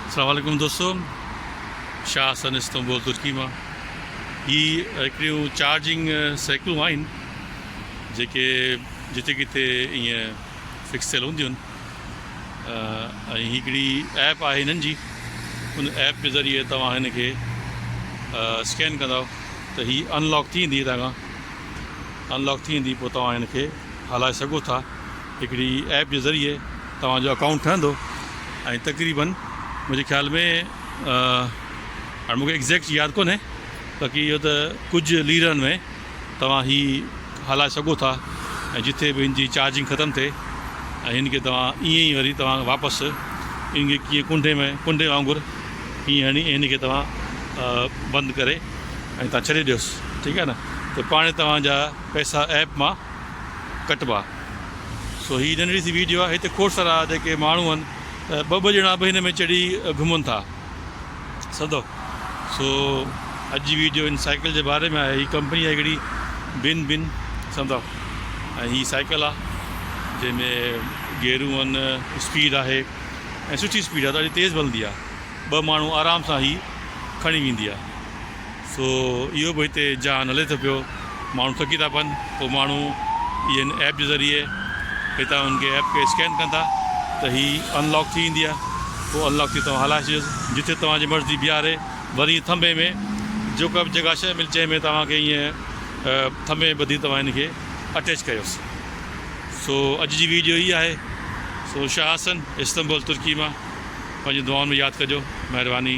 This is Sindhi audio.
السلام عليڪم دوستو شاهه حسن استنبول ترڪي مان هي هڪڙيون چارجنگ سائيڪلون آهن جيڪي جتي ڪٿي ائين فڪس ٿيل هونديون آهن ۽ هڪڙي ايپ آهي هنن جي ان ايپ جي ذريعي توهان هن کي اسڪين ڪندو ته هي انلاڪ ٿي ويندي هتان کان انلاڪ ٿي ويندي پوء توهان هن کي هلائي سگهو ٿا هڪڙي ايپ جي ذريعي توهان جو اڪائونٽ ٺهندو ۽ تقريبن منهنجي خيال ۾ هاڻي مون کي ايگزيڪٽ ياد ڪونهي باقي اهو ته ڪجهه ليرن ۾ توهان هي هلائي سگهو ٿا ۽ جتي به هن جي چارجنگ ختم ٿئي ۽ هن کي توهان ائين ئي وري توهان واپس ان کي ڪيئن ڪنڊي ۾ ڪنڊي وانگر ائين هڻي ۽ هن کي توهان بند ڪري ۽ توهان ڇڏي ڏيوس ٺيڪ آهي نه ته پاڻهي توهان جا پئسا ايپ مان ڪٽبا سو هي ننڍڙي سي ويڊيو آهي هتي کوڙ سارا جيڪي ماڻهو آهن ته ٻه ٻه ڄڻا به هن ۾ چڙهي گهمن ٿا سڌو سو اڄ جي ويڊيو ان سائيڪل جي باري ۾ آهي هي ڪمپني آهي هڪڙي بن بن سمجھو ۽ هي سائيڪل آهي جنهن ۾ گيرون آهن اسپيڊ آهي ۽ سٺي اسپيڊ آهي ڏاڍي تيز بلندي آهي ٻه ماڻهو آرام سان هي کڻي ويندي آهي سو اهو به هتي جهان هلي ٿو پيو، ماڻهو ٿڪي ٿا پون، پوء ماڻهو اهن ايپ جي ذريعي هتان ان کي ايپ کي اسڪين ڪن ٿا ته هي ان لاڪ ٿي ويندي آهي، پوء ان لاڪ تي توهان هلائي ڇڏيو جتي توهان جي مرضي بيهاري، وري ائين ٿنڀي ۾ جيڪا به جڳهه شيء ملي جنهن ۾ توهان کي ائين ٿنڀي ۾ ٻڌي توهان ان کي اٽيچ ڪيوس. سو اڄ جي ويڊيو هي آهي، سو شاهه حسن استنبول ترڪي مان پنهنجي دعائن ۾ ياد ڪجو، مهرباني.